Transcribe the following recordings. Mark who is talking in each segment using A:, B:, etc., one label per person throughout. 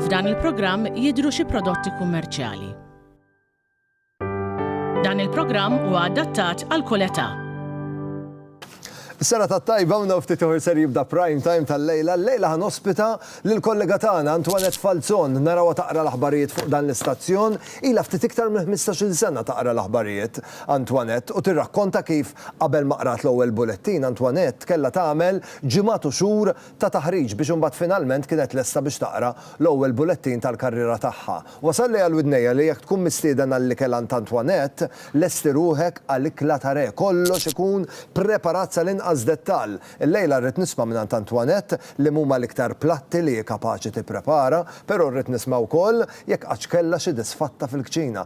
A: F'dan il-programm jidhru xi prodotti kummerċjali. Dan il-programm huwa adattat għal kull età. Sena ta' tajba u ftit uħur ser jibda prime time tal-lejla. Lejla ħan ospita l-kollega tagħna Antoinette Falzon naraw taqra l-aħbarijiet fuq dan l-istazzjon. Ila ftit iktar minn 15-il sena taqra l-aħbarijiet. Antoinette u tirrakkonta kif qabel ma qrat l-ewwel bulettin, Antoinette kellha tagħmel ġimgħat u xhur ta' taħriġ biex imbagħad finalment kienet lesta biex taqra l-ewwel bulettin tal-karriera tagħha. Wasalli għal widnejja li jekk tkun mistieden għall-ikel għand Antoinette, lesti ruħek għal ikla ta' re, kollox ikun preparat sal-inqas dettall. Illejla rrid nisma' mingħand Antoinette liemhuma l-iktar platti li hi kapaċi tipprepara, però rrid nisma' wkoll jekk qattx kellha xi disfatta fil-kċina.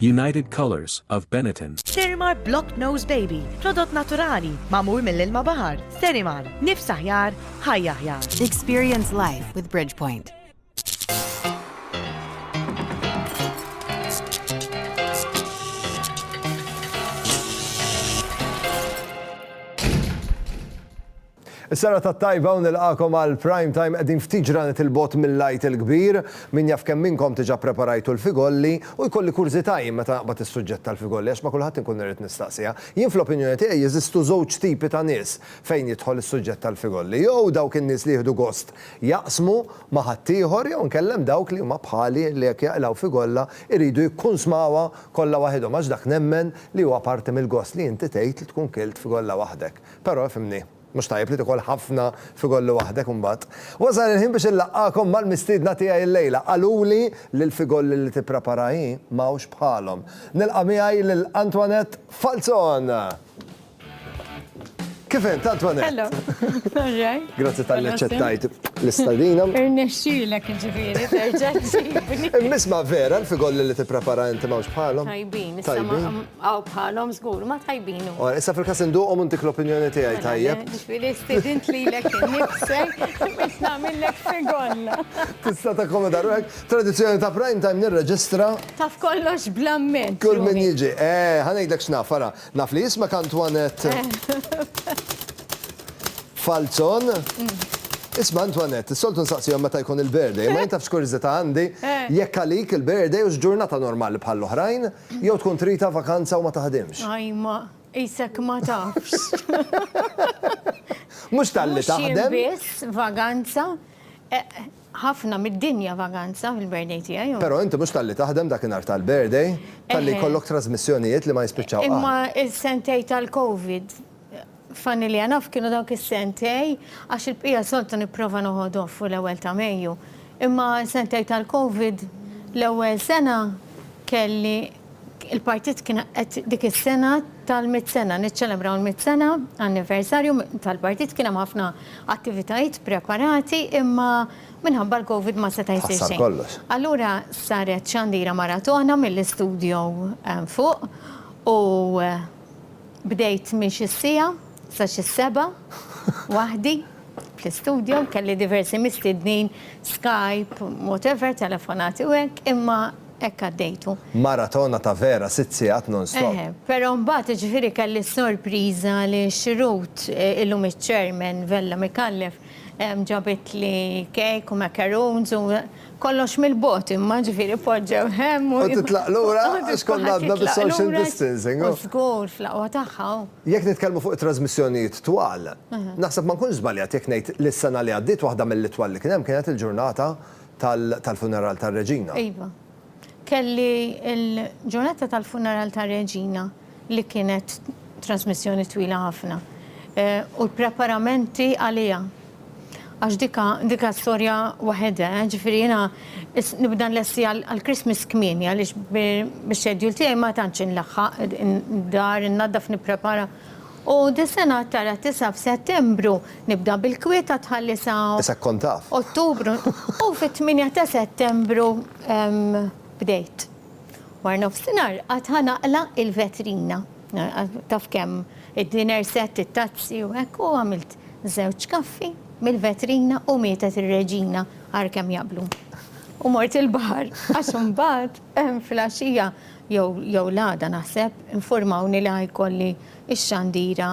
A: United Colors of Benetton. Sterimar Block Nose Baby, prodott naturali, mamur mill-ilma bahar. Sterimar, nifs aħjar, ħajja aħjar. Experience life with Bridgepoint. Is-serata t-tajba u nilqagħkom għal Prime Time qegħdin ftit ġranet 'il bogħod mill-Għid il-Kbir. Min jaf kemm minnkom diġa preparajtu l-figolli u jkolli kurżità jien meta naqbad is-suġġett tal-figolli għax ma' kulħadd inkun irrid nistaqsiha. Jien fl-opinjoni tiegħi jeżistu żewġ tipi ta' nies fejn jidħol is-suġġett tal-figolli. Jew dawk in-nies li jieħdu gost jaqsmu ma' ħaddieħor jew inkella hemm dawk li huma bħali li jekk jaqilgħu figolla jridu jikkunsmawha kollha waħidhom għax dak nemmen li huwa parti mill-gost li inti tgħid li tkun kilt fgolla waħdek. Però ifhimni, mhux tajjeb li tikol ħafna fi golli waħdek imbagħad. Wasal il-ħin biex inlaqqagħkom mal-mistiedna tiegħi llejla. Qaluli li l-figolli li tipprepara hi m'hawnx bħalhom. Nilqa' miegħi lil Antoinette Falzon! Kif int, Antoinette? Hello! All right. Grazzi talli aċċettajt l-istadina. Irnexxielek jiġifieri terġa' ġġibni. Imma isma' vera l-figolli li tipprepara inti m'hawnx bħalhom? Tajbin. Tajbin? Aw bħalhom żgur ma tajbin. Ora, issa fil-każ induqhom u ntik l-opinjoni tiegħi mela, tajjeb. Ġifieri stidint lilek innifsek biex nagħmillek segolla. Tista' takkomoda ruħek. Tradizzjoni ta' prime time nirreġistra. Taf kollox blamment. Kull min jiġi. Eh, ħanejdlek x'naf, ara. Naf li jismek Antoinette. Falzon. Mm. Isma Antoinette, soltu nsaqsijom meta jkun il-birthday, ma jintafx kurzita għandi, eh. jekk għalik il-birthday u ġurnata normali bħall-oħrajn. Jew tkun tridha vakanza u ma taħdimx. Ajma, qisek ma tafx. Mhux talli taħdem. Mhux jien biss vaganza. Ħafna mid-dinja vaganza fil-birthday tiegħi. Però inti mhux talli taħdem dak in-nhar tal-birthday, talli jkollok trasmissjonijiet li ma jispiċċaw qatt. Imma s-sentejn tal-Covid. Funny li enough kienu dawk is-sentej għax il-bqija soltu nipprova noqgħod off fuq l-ewwel ta' Mejju. Imma s-sentej tal-Covid l-ewwel sena kelli il-partit kien qed dik is-sena tal-mitt sena, niċċelebraw il-mitt sena anniversarju tal-partit kien hemm ħafna attivitajiet preparati imma minħabba l-Covid ma seta' jsir xejn. Allura saret xandira maratona mill-istudjo fuq u Bdejt minn xi siegħa sa xi sebgħa waħdi fl-istudjo, kelli diversi mistiednin, Skype, whatever, telefonati u hekk, imma hekk għaddejtu. Maratona ta' vera, sitt siegħat non-stop. Eħe, però mbagħad jiġifieri kelli s-sorpriża li x-xrut, illum iċ-Chairman Vella Micallef, ġabitli cake u macaroons u, Kollox mill-bogħod imma, ġifieri poġġew hemm u. U titlaq lura għax kont għadna bis-social distancing. U żgur, fl-aqwa tagħha u. Jekk nitkellmu fuq it-trażmissjonijiet twal, naħseb ma nkunx żbaljat jekk ngħid li s-sena li għaddiet waħda mill-itwal li kien hemm kienet il-ġurnata tal-funeral tar-Reġina. Iva. Kelli l-ġurnata tal-funeral tar-Reġina li kienet trasmissjoni twila ħafna u l-preparamenti għaliha. Għax dik diha storja waħedha, ġifieri jiena nibda nlesti għall-Christmas kmieni għaliex bix-schedule tiegħi ma tantx inlaħħaq, id-dar innaddaf nipprepara. U dis-sena tara tisa' f'Settembru, nibda bil-kwiet ta' tħalli sa. Issa kkont taf. Ottubru, u fit-tmienja ta' Settembru bdejt. War nofsinhar għad ħa naqla' il-vetrina. Taf kemm id-dinner set, it-tazzi u hekk, u għamilt żewġ kaffi mill-vetrina u mietet ir-Reġina, ara kemm jaqblu. U mort il-baħar għax imbagħad filgħaxija jew jew l-għada naħseb, infurmawni li ħa jkolli x-xandira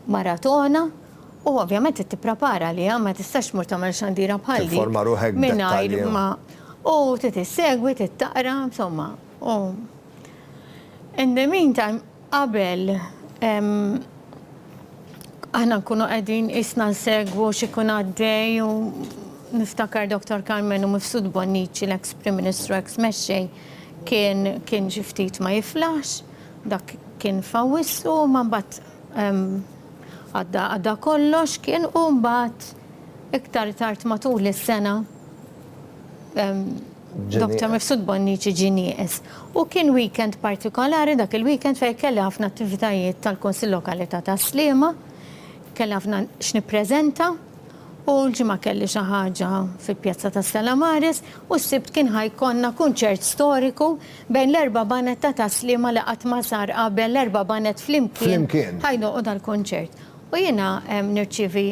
A: maratona u ovvjament trid tipprepara għaliha, ma tistax tmur tagħmel xandira bħal dik. Tinforma ruħek b'dettalji. Mingħajr ma u trid issegwi, trid taqra, insomma. U in the meantime, Qabel, aħna nkunu qegħdin qisna nsegwu x'ikun għaddej u niftakar Dottor Karmenu Mifsud Bonnici, l-eks Prim Ministru, eks Mexxej, kien kien xi ftit ma jiflaħx, dak kien f'Awwissu, imma mbagħad għadda għadda kollox kien u mbagħad iktar tard matul is-sena, Dr. Mifsud Bonnici ġie nieqes. U kien weekend partikolari dak il-weekend fejn kelli ħafna attivitajiet tal-Kunsill Lokali ta' Tas-Sliema, kelli ħafna x'nippreżenta u l-Ġimgħa kelli xi ħaġa fil-Pjazza ta' Stella Maris u s-Sibt kien ħa jkollna kunċert storiku bejn l-erba' baned ta' Tas-Sliema li qatt ma sar qabel, l-erba' baned flimkien ħa jdoqqu dal-kunċert. U jiena nirċievi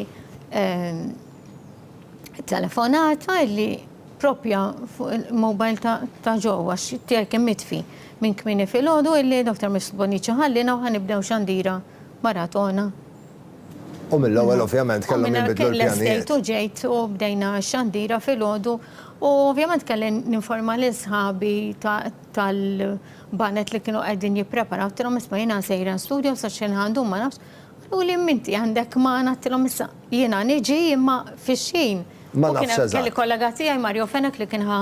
A: telefonata li propja fuq il-mobile ta' ġo, għax tiegħi kien mitfi minn kmini filgħodu illi Dr. Mrs. Bonnici ħallina u ħanibdew xandira maratona. U mill-ewwel ovvjament kellhom jinbidlu l-pjanijiet. Kelli stejt u ġejt u bdejna x-xandira filgħodu u ovvjament kelli ninforma lil sħabi tal-banet li kienu qegħdin jippreparaw, għedtilhom isma' jiena sejra studio sa x'ħin ħa ndum ma nafx, U li mminti għandek ma' ngħattilhom issa jiena niġi imma fix-xħin. Ma nafx eżatt. Kelli kollega tiegħi Mario Fenech li kien ħa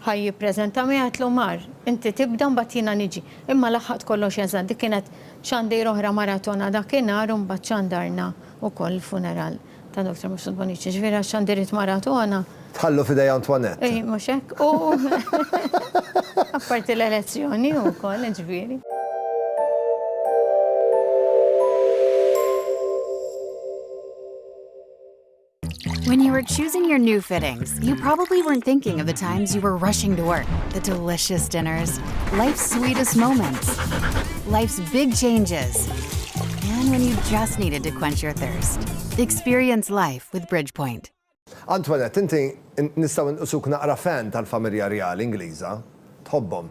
A: ħa jippreżenta miegħi għedtlu mar inti tibda mbagħad jiena niġi. Imma laħħaqt kollox eżatt dik kienet xandir oħra maratona dakinhar u mbagħad xandarna ukoll l-funeral. Ta' Doctor Mifsud Bonnici, jiġifieri għax għandi ridt maratona. Tħallu f'idej Antoinette. Ej, mhux hekk, u apparti l-elezzjoni wkoll, jiġifieri. When you were choosing your new fittings, you probably weren't thinking of the times you were rushing to work, the delicious dinners, life's sweetest moments, life's big changes, And when you just needed to quench your thirst. Experience life with Bridgepoint. Antoinette, inti nistgħu nqisuk naqra fan tal-familja rjali Ingliża? Tħobbhom?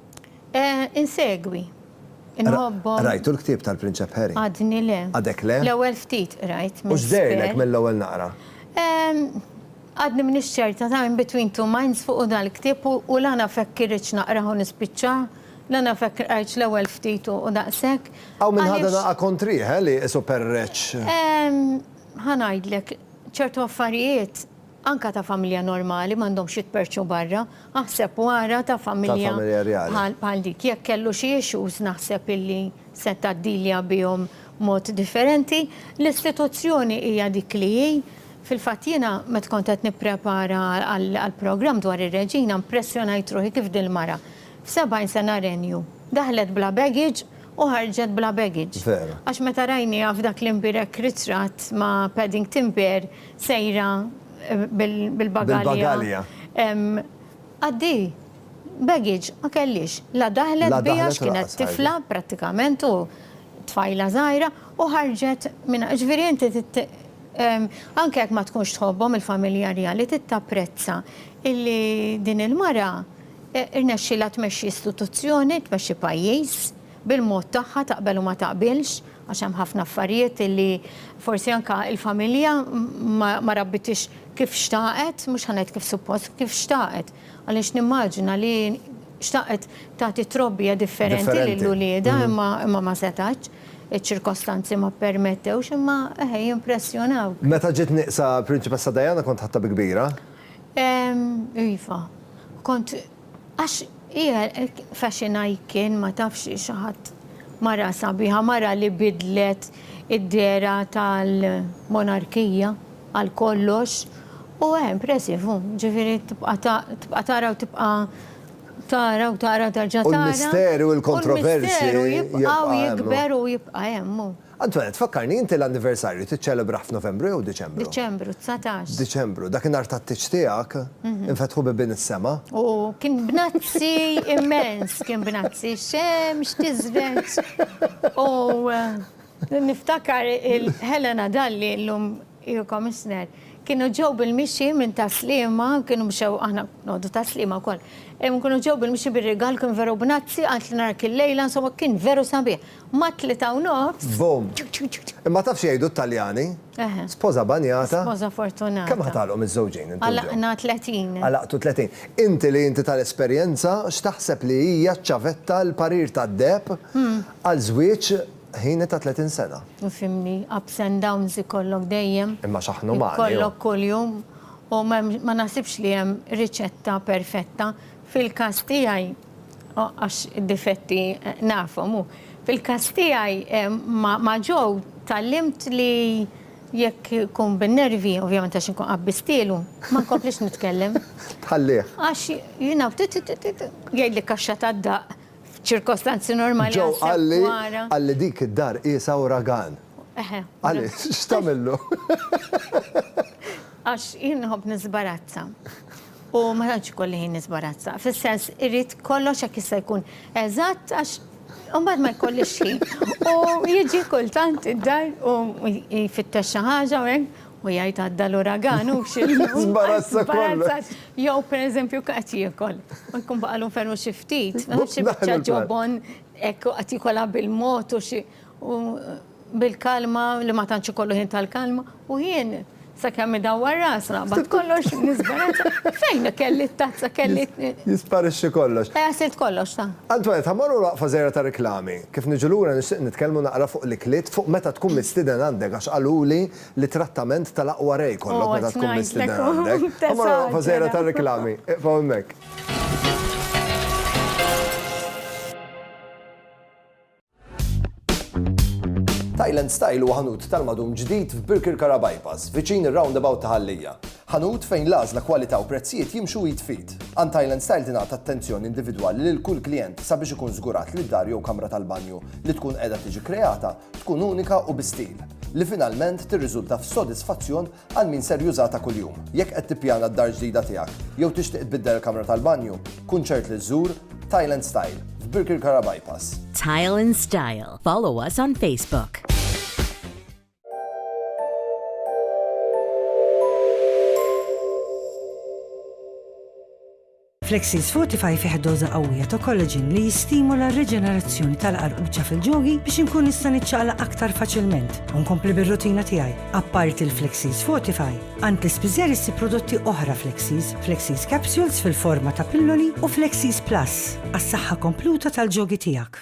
A: Eh, insegwi. Inħobbhom. Rajtu l-ktieb tal-Prinċep Harry? Għadni le. Għadek le? L-ewwel ftit rajt. U x'dejlek mill-ewwel naqra? Għadni m'iniex ċerta ta' In Between Two Minds fuq hu dal-ktieb u la naf hekk irridx naqrah u nispiċċah, la naf hekk qrajtx l-ewwel ftit u daqshekk. Hawn min ħadha daqqa kontrih, eh, li qisu perreċċ. Ehm, ħa ngħidlek, ċertu affarijiet, anke ta' familja normali, m'għandhomx jitperrċu barra. Aħseb u ara ta' familja bħal dik. Jekk kellu xi issues naħseb illi seta' ddilja bihom mod differenti. L-istituzzjoni hija dik li hi. Fil-fatt jiena meta kont qed nipprepara għall-programm dwar ir-Reġina mpressjonajt ruħi kif dil-mara f'sebgħin sena renju daħlet bla baggage u ħarġet bla baggage. Għax meta rajniha f'dak l-imbierek ritratt ma' Paddington Bear Sejra bil-bagalja. Għaddi, baggage ma kellhiex. La daħlet biha għax kienet tifla prattikament u tfajla żgħira u ħarġet minn hekk. Ġifieri inti trid anke jekk ma tkunx tħobbhom il-familja rjali trid tapprezza illi din il-mara rnexxielha tmexxi istituzzjoni, tmexxi pajjiż. bil-mod tagħha taqbel u ma taqbilx, għax hemm ħafna affarijiet li forsi anke l-familja ma rabbitiex kif xtaqet, mhux ħa ngħid kif suppost, kif xtaqet. Għaliex nimmaġina li xtaqet tagħti trobbija differenti lil uliedha imma ma setgħetx, iċ-ċirkostanzi ma ppermettewx imma eħe jimpressjonaw. Meta ġiet nieqsa l-Prinċipessa Diana kont ħadtha bi kbira? Iva, kont. Għax hi hekk fashiona jkien ma tafx xi ħadd mara sabiħa, mara li biddlet id-dehra tal-monarkija għal kollox u eh impressive hu, ġifieri tibqa' tibqa' tara u tibqa' tara u tara terġa' tara. U l-misteru l-kontroversji. U l-misteru jibqa' u jikber u jibqa' hemm hu. Antoinette, fakkarni, inti l-anniversarju tiċċelebrah f'Novembru jew Diċembru? Diċembru, dsatax. Diċembru, dak in-nhar tat-tieġ tiegħek, infetħu bibien is-sema. U kien bnazzi immens, kien bnazzi, x-xemx tiżreġ u niftakar il-Helena Dalli, llum hi Commissioner, kienu ġew bil-mixi minn Tas-Sliema, kienu mxew, aħna noqogħdu Tas-Sliema wkoll, imma kienu ġew bil-mixi bir-rigal, kien veru bnazzi, qaltli narak il-lejla, insomma kien veru sabiħ. Mat-tlieta u nofs. Boom! Imma taf x'jgħidu t-Taljani? Eħe. Spoża banjata. Spoża fortunata. Kemm ħatalqu miżżewġin inti u John? Għalaqna tletin. Għalaqtu tletin. Inti li inti tal-esperjenza, x'taħseb li hija ċ-ċavetta, l-parir tad-deheb għal żwieġ ħini ta' tletin sena? Ifhimni, ups and downs ikollok dejjem. Imma x'aħna umani, oh! Ikollok kuljum u ma naħsibx li hemm riċetta perfetta. Fil-każ tiegħi. Oh, għax id-difetti eh, nafhom u fil-każ tiegħi eh, ma' ġew tallimt li jekk kun bin-nervi, ovvjament għax inkun qabbistilu, ma nkomplix nitkellem. Tħallih. Għax jina jgħid li kaxxa ta' daq ċirkostanzi normali. Ġew għalli għalli dik id-dar isa u ragan. Għalli, x'tamillu? Għax jinħob nizbarazza. U ma tantx ikolli ħin nisbarazza. Fis-sens, irrid kollox jekk jista' jkun eżatt għax imbagħad ma jkollix ħin. U jiġi kultant id-dar u jfittex xi ħaġa u hekk u jgħid għadda l-uragan u x'inhu. Żbarazza kollox. Jew pereżempju qed jiekol u jkun baqgħu ferm xi ftit, ma nafx xi biċċa ġobon hekk u qed jiekolha bil-mod u xi. U bil-kalma li ma tantx ikollu ħin tal-kalma, u jien sakemm idawwar rasu naqbad kollox nisbarazza. Fejn kelli t-tazza, kelli. Jisparixxi kollox. Eh, għasilt kollox, ta. Antoinette, ħa mmorru waqfa żgħira ta' riklami. Kif niġu lura nixtieq nitkellmu naqra fuq l-ikliet, fuq meta tkun mistieden għandek għax qaluli li trattament tal-aqwa re jkollok meta tkun mistieden għandek. Ħa mmorru waqfa żgħira ta' riklami. Iqfgħu hemmhekk. Thailand Style huwa ħanut tal-madum ġdid f'Birkirkara Bypass, viċin ir-roundabout ta' Ħallija. Ħanut fejn l-għażla kwalità u prezzijiet jimxu id f'id. Għand Thailand Style tingħata attenzjoni individwali lil kull klijent sabiex ikun żgurat li d-dar jew kamra tal-banju li tkun qiegħda tiġi kreata tkun unika u bi stil, li finalment tirriżulta f'sodisfazzjon Għal min ser jużha ta' kuljum. Jekk qed tippjana d-dar ġdida tiegħek jew tixtieq tbiddel il-kamra tal-banju, kun ċert li żżur Tile and Style f'Birkirkara Bypass. Tile and Style. Follow us on Facebook. Flexseeds Fortify fih doża qawwija ta' collagen li jistimula r-riġenerazzjoni tal-qarquċa fil-ġogi biex inkun nista' niċċaqlaq aktar faċilment u nkompli bir-rutina tiegħi. Apparti l-Flexseeds Fortify, għand l-ispiżer issib prodotti oħra Flexseeds, Flexseeds Capsules fil-forma ta' pilloli u Flexseeds Plus għas-saħħa kompluta tal-ġogi tiegħek.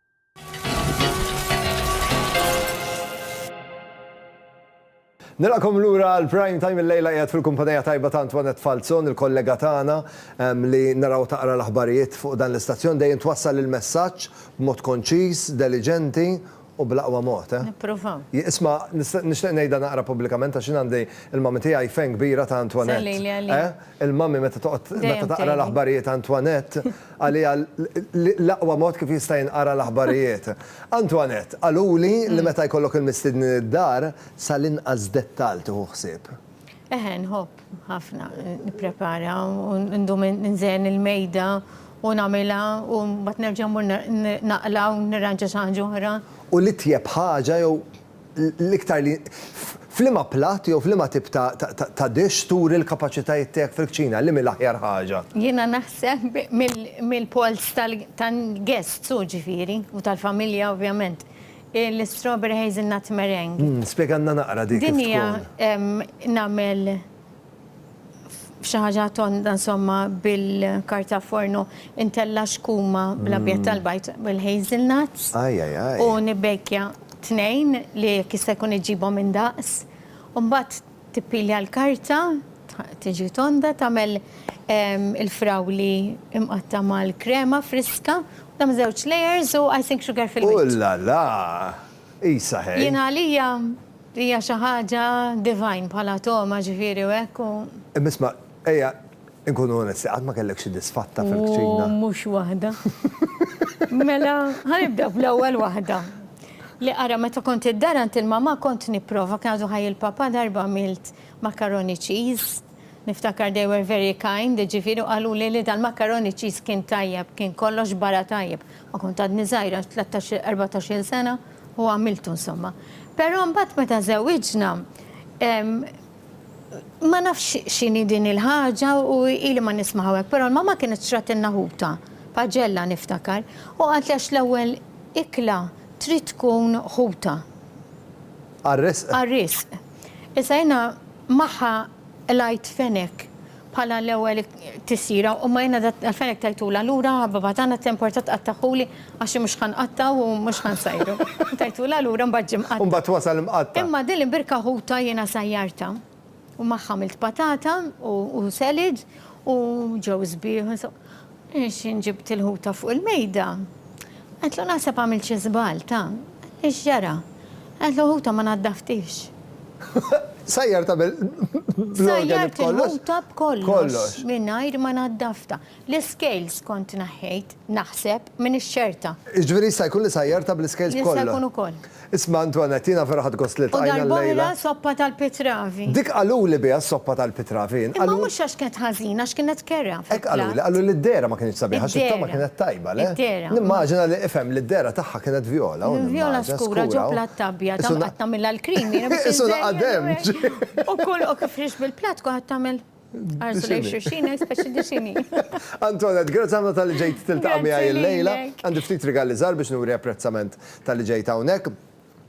A: Nilqakom lura għal prime time il-lejla qiegħed fil-kumpanija tajba ta' Antoinette Falzon, il-kollega tagħna ehm, li naraw taqra l-aħbarijiet fuq dan l-istazzjon dejjem twassal il-messaġġ b'mod konċiż, deliġenti u bl-aqwa mod. Eh? Nipprova. Isma, nixtieq ngħidha naqra pubblikament għax għandi il-mami tiegħi fejn kbira ta' Antoinette. Eh? Il-mami meta toqgħod meta taqra l-aħbarijiet Antoinette għaliha l-aqwa mod kif jista' jinqara l-aħbarijiet. Antoinette, Qaluli li meta jkollok il-mistednin id-dar, sal-inqas dettall tieħu ħsieb. Eħe, nħobb ħafna nipprepara u ndum inżejjen il-mejda u nagħmilha u mbagħad nerġa' mmur naqla' u nirranġa xi ħaġa oħra. U l-itjeb ħaġa jew l-iktar li f'liema platt jew f'liema tip ta' dish turi l-kapaċitajiet tiegħek fil-kċina, liema hi l-aħjar ħaġa. Jiena naħseb mill-polls tal-guests hu ġifieri, u tal-familja ovvjament, l-strawberry hazelnut meringue. Spjegalna naqra dik kif tkun. Din hija nagħmel f'xi ħaġa tonda insomma bil-karta forno intella' xkuma bl-abjad tal-bajd bil-hazel nuts. Ajj ajj ajj. U nibbejkja tnejn li jekk jista' jkun iġġibhom indaqs. U mbagħad tippilja l-karta, tiġi tonda, tagħmel il-frawli imqatta' mal-krema friska, tagħmel żewġ layers u icing sugar fil-wiċċ. Ullala! Qisha ħej. Jiena għalija Hija xi ħaġa divine bħala togħma ġifieri u hekk u. Imma isma', ejja nkunu onesti, qatt ma kellek xi disfatta fil-kċina? U mhux waħda. Mela, ħa nibda bl-ewwel waħda. Li ara meta kont id-dar għand il-mamà kont nipprova, kien għadu ħaj il-papà darba għamilt macaroni cheese. Niftakar they were very kind, jiġifieri qaluli li dal-macaroni cheese kien tajjeb, kien kollox barra tajjeb. Ma kont għadni żgħira, tlettax, erbatax-il sena, u għamiltu insomma. Però mbagħad meta żewwiġna, ma nafx x'inhi din il-ħaġa u ili ma nismaha hekk, però l-mamma kienet xtratilna ħuta, paġella niftakar, u qaltli għax l-ewwel ikla trid tkun ħuta. Għar-risq. Għar-risq. Issa jiena Magħha qlajt fenek bħala l-ewwel tisjira u ma jiena dal-fenek tajtula lura, ħabibha tagħna temporta tqattagħhuli għax hi mhux ħa nqattgħu u mhux ħa nsajru. Tajtula lura u mbagħad ġie mqatta'. U mbagħad wasal imqatta'. Imma din il-birka ħuta jiena sajjartha u magħha għamilt patata u selid u ġew sbieħ. X'in ġibt il-ħuta fuq il-mejda? Qaltlu, Naħseb għamilt xi żball, ta. Li x'ġara? Qaltlu, Ħuta ma naddaftiex. Sajjart qabel bl-organi b'kollox? Sajjart il-ħuta b'kollox mingħajr ma naddaftha. L-iscales kont neħħejt, naħseb, minn ix-xerta. Jiġifieri jista' jkun li sajjartha bl-iscales kollha? Jista' jkun ukoll. Isma' Antoinette, jiena vera ħadt gost li ltqajna llejla. U darb'oħra soppa tal-pitravi. Dik qaluli biha s-soppa tal-pitravi jien. Imma mhux għax kienet ħażina, għax kienet kerha fil-platt. Hekk qaluli, qalu li d-dehra ma kinitx sabiħa, xittha ma kienet tajba, le? Id-dehra. Nimmaġina li, ifhem, li d-dehra tagħha kienet vjola, u nimmaġina. Vjola skura ġo platt abjad, hawn qatt tagħmilha l-cream jiena biex inżejjen. Isu naqa' demġ. U kull, u kif rixx bil-platt, kulħadd għamel. Arsu lejn xulxin hemm speċi dixini. Antoinette, grazzi ħafna tal-li ġejt tiltaqa' miegħi illejla. Għandi ftit rigali żgħar biex nuri apprezzament tal-li ġejt hawnhekk.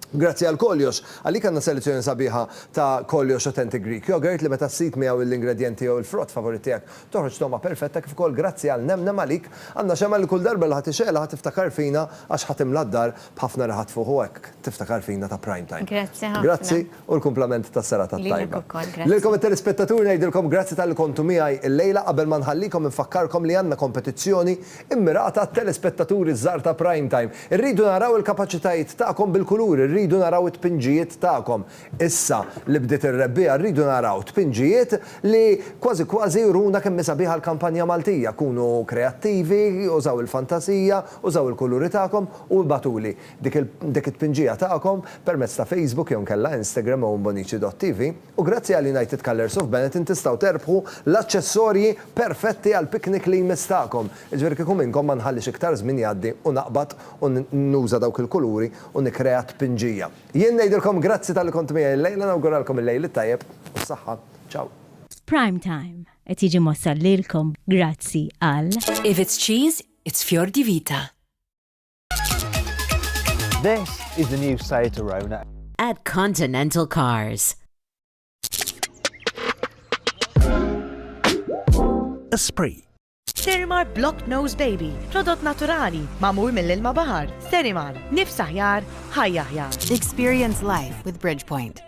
A: Grazzi għal Koljox. Għalik għandna selezzjoni sabiħa ta' Koljox Authentic Greek Yogurt li meta ssib miegħu l-ingredjenti jew il-frott favorit tiegħek toħroġ togħma perfetta kif ukoll grazzi għal Nemnem għalik għandna xemgħa li kull darba li ħa tixgħelha ħa tiftakar fina għax ħa timla d-dar b'ħafna riħat fuq u hekk tiftakar fina ta' prime time. Grazzi ħafna. Grazzi. u l-kumplament tas-serata t-tajba. Lilek ukoll, grazzi. Lilkom it-telespettaturi ngħidilkom grazzi talli kontu miegħi llejla, qabel ma nħallikom infakkarkom li għandna kompetizzjoni mmirata għat-telespettaturi ż-żgħar ta' Prime Time. Irridu naraw il-kapaċitajiet tagħkom bil-kuluri, rridu naraw it-tpinġijiet tagħkom. Issa li bdiet ir-rebbiegħa rridu naraw tpinġijiet li kważi kważi juruna kemm hi sabiħa l-kampanja Maltija. Kunu kreattivi, użaw il-fantasija, użaw il-kuluri tagħkom u ibagħtuli. dik it-tpinġija tagħkom permezz ta' Facebook jew inkella Instagram owenbonici.tv u grazzi għal United Colours of Benetton tistgħu terbħu l-aċċessorji perfetti għall-piknik li jmiss tagħkom. Jiġifieri kieku minnkom ma nħallix iktar żmien jgħaddi u naqbad u nuża dawk il-kuluri u nikkrea t-tpinġija. Jien ngħidilkom grazzi talli kontu miegħi llejla nawguralkom il-lejl it-tajjeb u s-saħħa. Ciao. Prime Time qed jiġi mwassal lilkom grazzi għal. If it's cheese, it's fior di vita. This is the new Seat Arona. At Continental Cars. Esprit. Sterimar Block Nose Baby, prodott naturali, mamur mill-ilma bahar. Sterimar, nifsaħjar, ħajjaħjar. Experience life with Bridgepoint.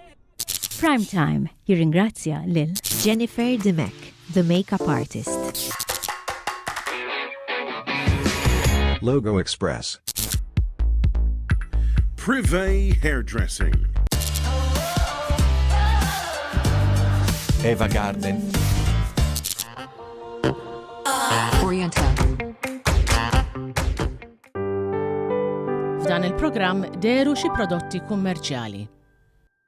A: Prime Time jirringrazzja lil Jennifer Dimech, the makeup artist. Logo Express. Privé Hairdressing. Eva Garden. Oriental. F'dan il-programm deru xi prodotti kummerċjali.